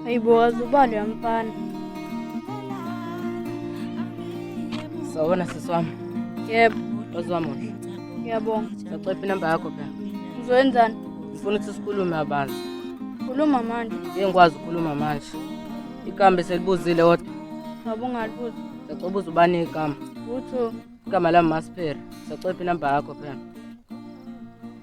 Aibu wazi ubali ya mfana. Sawona sisi wami. Yebo. Wazi wami muhle. Ngiyabonga. Ngicela inamba yakho phela. Ngizoyenzani? Ngifuna ukuthi sikhulume abantu. Khuluma manje. Ngeke ngikwazi ukukhuluma manje. Ikambe selibuzile kodwa. Baba ungalibuzi. Ngicela ubuze ubani igama. Utho. Igama lami Masiphere. Ngicela inamba yakho phela.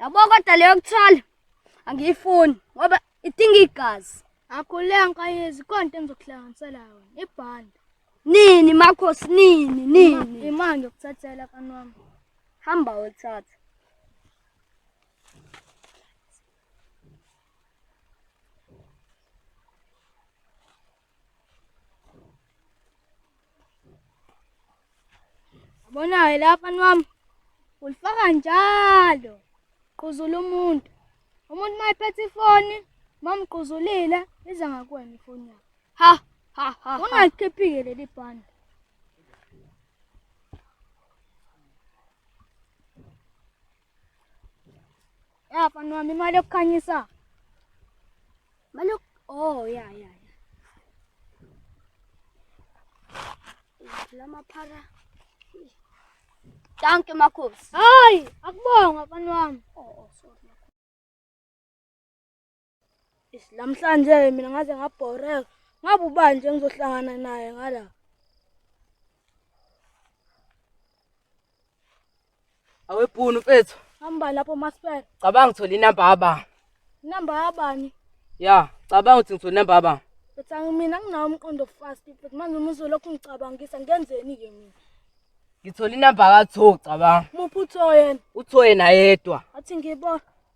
yabo kodwa leyo kuthola angiyifuni ngoba idinga igazi akhuleka nkayezi konto engizokuhlanganisela yona ibhanda nini makhosi nini nini imali yokuthathela kanwami hamba wothatha Bonayo lapha nwami ulifaka njalo quzula umuntu umuntu mayiphethe ifoni mamquzulile iza ngakuwena ifoni yakho ha ha ha ungakhiphi-ke leli bhande Ya mfana wami imali yokukhanyisa. Imali yok. Oh ya ya ya. Lama para. Danke Markus. Ay, akubonga mfana wami. Oh, oh sorry. Namhlanje mina ngaze ngabhoreka. Ngabe ubani nje ngizohlangana naye ngala? Awebhunu mfethu. Hamba lapho Maspera. Cabanga ngithola inamba yaba. Inamba yabani? Ya, cabanga ukuthi ngithola inamba yaba. Mfethu angimina nginawo umqondo fast mfethu manje uma uzolokhu ngicabangisa ngenzeni ke mina? Ngithola inamba kaTho cabanga. Muphi uTho yena? UTho yena yedwa. Athi ngibona.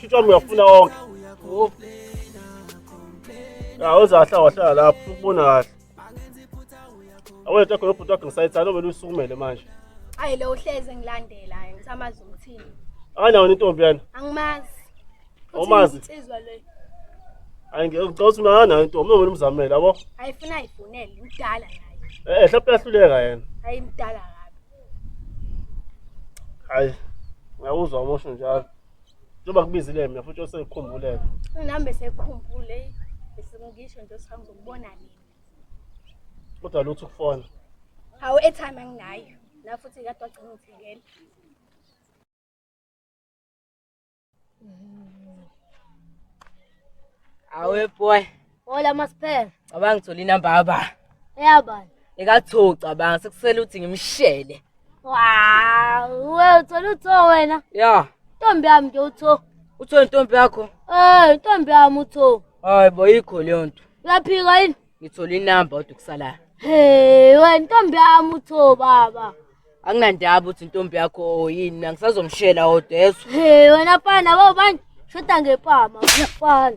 Shuthi wami uyafuna wonke. Oh. Ya uzahla wahlala lapho ukubona kahle. Awethe khona ubhuti wakhe ngisayithanda obele usukumele manje. Hayi lo uhleze ngilandela hayi ngisamazi ukuthini. Akanawo intombi yana. Angimazi. Awumazi? Insizwa le. Hayi ngicela ukuthi unana nayo intombi noma umzamela yabo. Ayifuna ayivunele udala naye. Eh hlapha yahluleka yena. Hayi mdala kabi. Hayi. Ngiyawuzwa umosho njalo. Njengoba kubizile mina futhi osekukhumbule. Nami besekukhumbule besingisho nje sihamba ukubona nini. Kodwa lutho ukufona. Hawu airtime anginayo. La futhi kade wagcina ngithengela. Awe boy. Hola masiphele. Cabanga ngithola inamba yaba. Eyabani? Ekatho cabanga sekusele uthi ngimshele. Wow, wewe uthola utho wena. Yeah. Ntombi yami nje utho. Utho intombi yakho? Eh, intombi yami utho. Hayi bo ikho leyo nto. Uyaphika yini? Ngithola inamba kodwa kusalayo. Hey, wena ntombi yami utho baba. Anginandaba ukuthi intombi yakho oh, yini, mina ngisazomshela odwa yezwa. Hey, wena pana baba bani? Shoda ngepama, ngiyafana.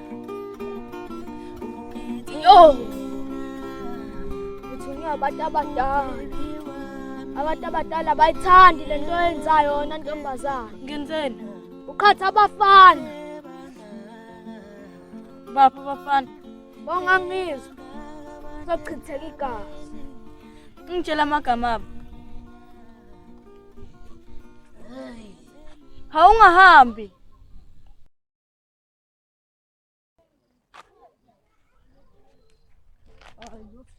Yo! Ngithunye abantu abadala. Abantu abadala bayithandi le nto yenzayo yona ntombazana. Ngenzeni? Uqhatha abafana. Baphi abafana? Bongangizwa. Sochitheka igazi. Ngitshela amagama abo. Hawungahambi.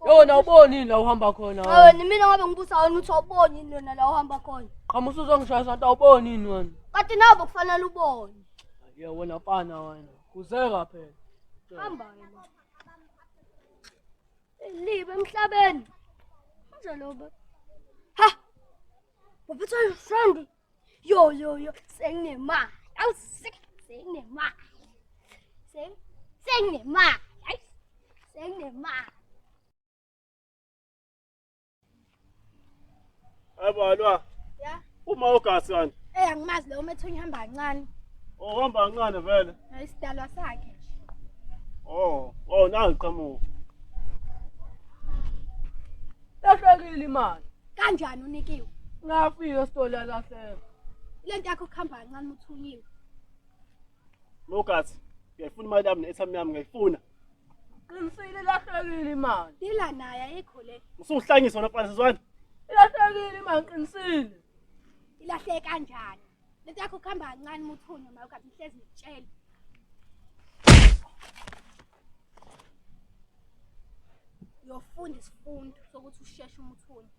yona uboni yini la uhamba khona awe ni mina ngabe ngibusa wena uthi awuboni yini yona la uhamba khona qhamusa uzongishaya sonto awuboni yini wena kati nabo kufanele ubone ye wena mfana wena kuzeka phela hamba wena libe emhlabeni kunjalo ba ha uphethwa yisandi Yo yo yo, senginemali. Awu sek- senginemali. Seng- Senginemali. Ayi, Senginemali. Abalwa. Ya. Uma ugasi kanti. Eh angimazi lo umethunya hamba kancane. Ohamba kancane vele. Hayi sidalwa sakhe. Oh, oh nangiqhamuka. Lahlekile imali. kanjani unikiwe ngafika esitolo alahleka le nto yakho kuhamba kancane uthunyiwe mogathi ngiyayifuna imali yami ne-airtime yami ngiyayifuna qinisile ilahlekile imali dila naye ayikho le usuhlanyisa wona phansi sizwana ilahlekile imali qinisile ilahleke kanjani le nto yakho kuhamba kancane uma uthunye uma ugathi ngihlezi ngikutshela yofunda isifundo sokuthi usheshe umuthuni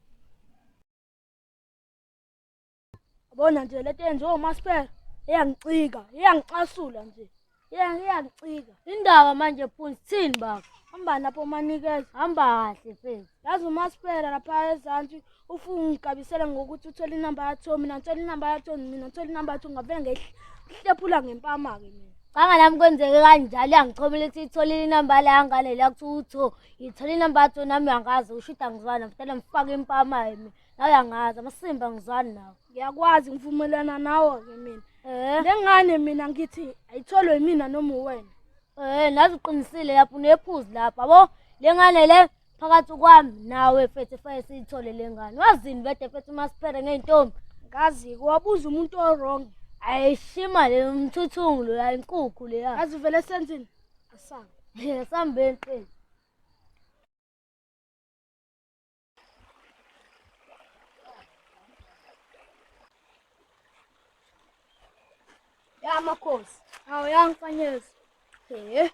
bona nje lento yenziwa umaspera iyangicika iyangicasula nje iyangicika indaba manje phunzi thini baba hamba lapho manikeza hamba kahle fezi yazi umaspera lapha ezantsi ufu ungigabisela ngokuthi uthole inamba yakho mina ngithola inamba yakho mina ngithola inamba yakho ngavele ngehlephula ngempama-ke mina canga nami kwenzeke kanjalo yangithomela ukuthi itholile inamba la yangane la kuthiwa utho ngithole inamba yakho nami yangazi usho ukuthi angizwani mfutela ngifake impama-ke mina nawe yangazi amasimba ngizwani nawe ngiyakwazi ngivumelana nawo-ke mina um le ngane mina ngithi ayitholwe yimina noma uwena um nazi uqinisile lapho unephuzi lapho yabo le ngane le phakathi kwami nawe fethi fake siyithole le ngane wazini bede fethi uma siphere ngey'ntombi kazi wabuza umuntu o-wrong ayishima le mthuthungu loya inkukhu leya kazi vele senzini asambe asambeni qini Ya makhosi. Awu yangifanyeza. He.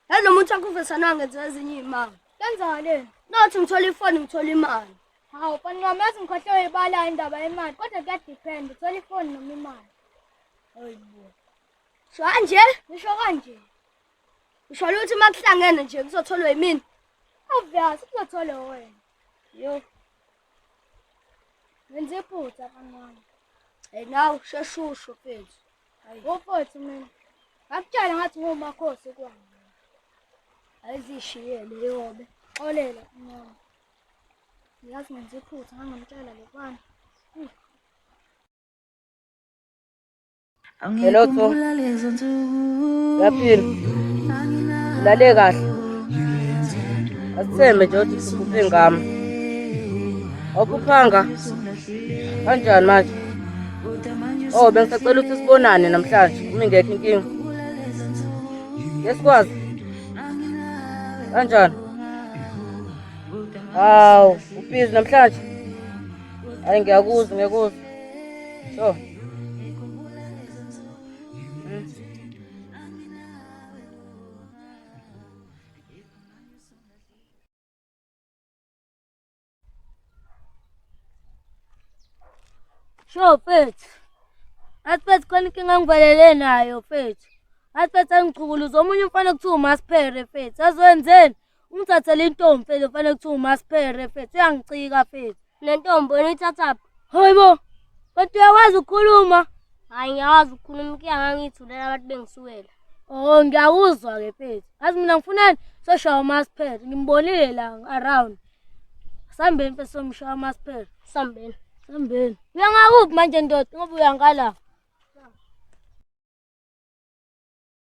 Hello muntu akuvesana ngenze ezinye imanga. Kenzakale. Nothi ngithola ifoni ngithola imali. Hawu fani ngamazi ngikhohlewe ibala indaba yemali kodwa kuya depend uthola ifoni noma imali. Hayibo. Sho kanje, ngisho kanje. Usho ukuthi makuhlangene nje kuzotholwa yimini. Obvious kuzotholwa wena. Yo. Ngenze iphutha kancane. Hey nawe sheshusho mfethu. Ngofethu mina. Ngakutshela ngathi ngomakhosi kwami. Ayizishiyele yobe. Xolela mama. Ngiyazi ngenze iphutha ngangamtshela lokwana. Hello to. Yaphila. Lale kahle. Asithembe nje ukuthi siphuphe ngami. Okuphanga. Kanjani manje? Oh, bengisacela ukuthi sibonane namhlanje. Umi ngekho inkinga. Yesikwazi. Kanjani? Hawu, ubhizi namhlanje. Hayi ngiyakuzwa ngiyakuzwa. So. Sho mfethu. Asiphethe khona inkinga ngivalele nayo mfethu. Asiphethe angichukuluza omunye umfana kuthiwa umasphere mfethu. Azwenzeni? Ungithathela intombi mfethu kufanele kuthiwa umasphere mfethu uyangicika mfethu. Le ntombi wena uyithathaphi? Hayibo. Kodwa uyakwazi ukukhuluma? Hayi ngiyakwazi ukukhuluma kuya ngangithulela abantu bengisuwela. Oh ngiyakuzwa ke mfethu. Azi mina ngifunani soshaya umasphere ngimbonile la around. Sambeni mfethu somshaya umasphere. Sambeni. Sambeni. Uyangakuphi manje ndoda ngoba uyangala.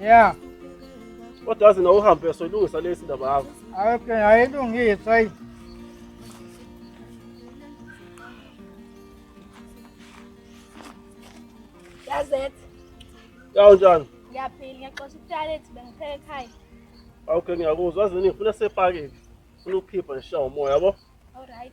Yeah. Kodwa wazi na uhambe soyilungisa lesi ndaba yakho. Ayike ayilungisa ayi. Yazet. Yawu njani? Ngiyaphila ngiyaxosha italent bengipheke ekhaya. Okay ngiyakuzwa wazi ngifuna sepakile. Funa ukuphipha ngishawa umoya yabo. All right.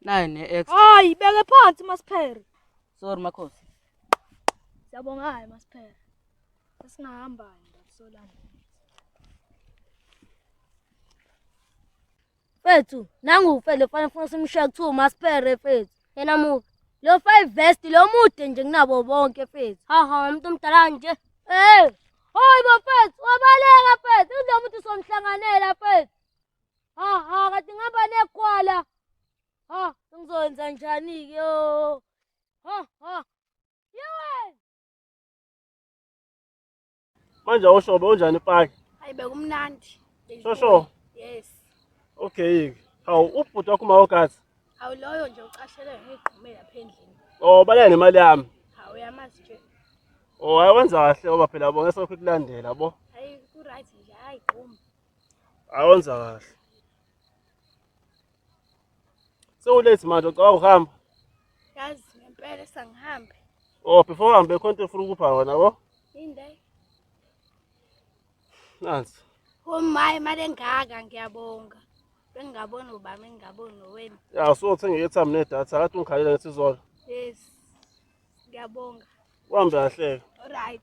nayo ne-ex hayi beke phansi masiphere sorry makhosi siyabonga hayi masiphere sesingahamba ndakusolana fethu nangu ufele fanele funa simshiya kuthiwa umasiphere fethu yena mubi lo five vest lo mude nje kunabo bonke fethu haha umuntu omdala nje eh hayi bafethu wabaleka fethu uzomuthi somhlanganela fethu Ha ha kade ngihamba negwala. Ha ngizokwenza njani ke yo. Ha ha. Yewe. Manje awushobe unjani ipaki? Hayi bekumnandi. Shosho. Yes. Okay. Hawu ubhuti wakho uma ogazi. Hawu loyo nje ucashele ngigqumela lapha endlini. Oh balaya nemali yami. Hawu yamazi nje. Oh hayi wenza kahle oba phela bonke sokho kulandela bo. Hayi ku right nje hayi gquma. Awenza kahle. Sewulate manje ucabanga ukuhamba? Yazi ngempela sangihambe. Oh, before uhambe khona into efuna ukupha wena bo? Inde. Nansi. Oh my, imali engaka ngiyabonga. Bengingabona ubami ngingabona wena. Ya, so uthenga i-airtime nedatha, akathi ungikhalela ngesizolo. Yes. Ngiyabonga. Uhambe kahle. Alright.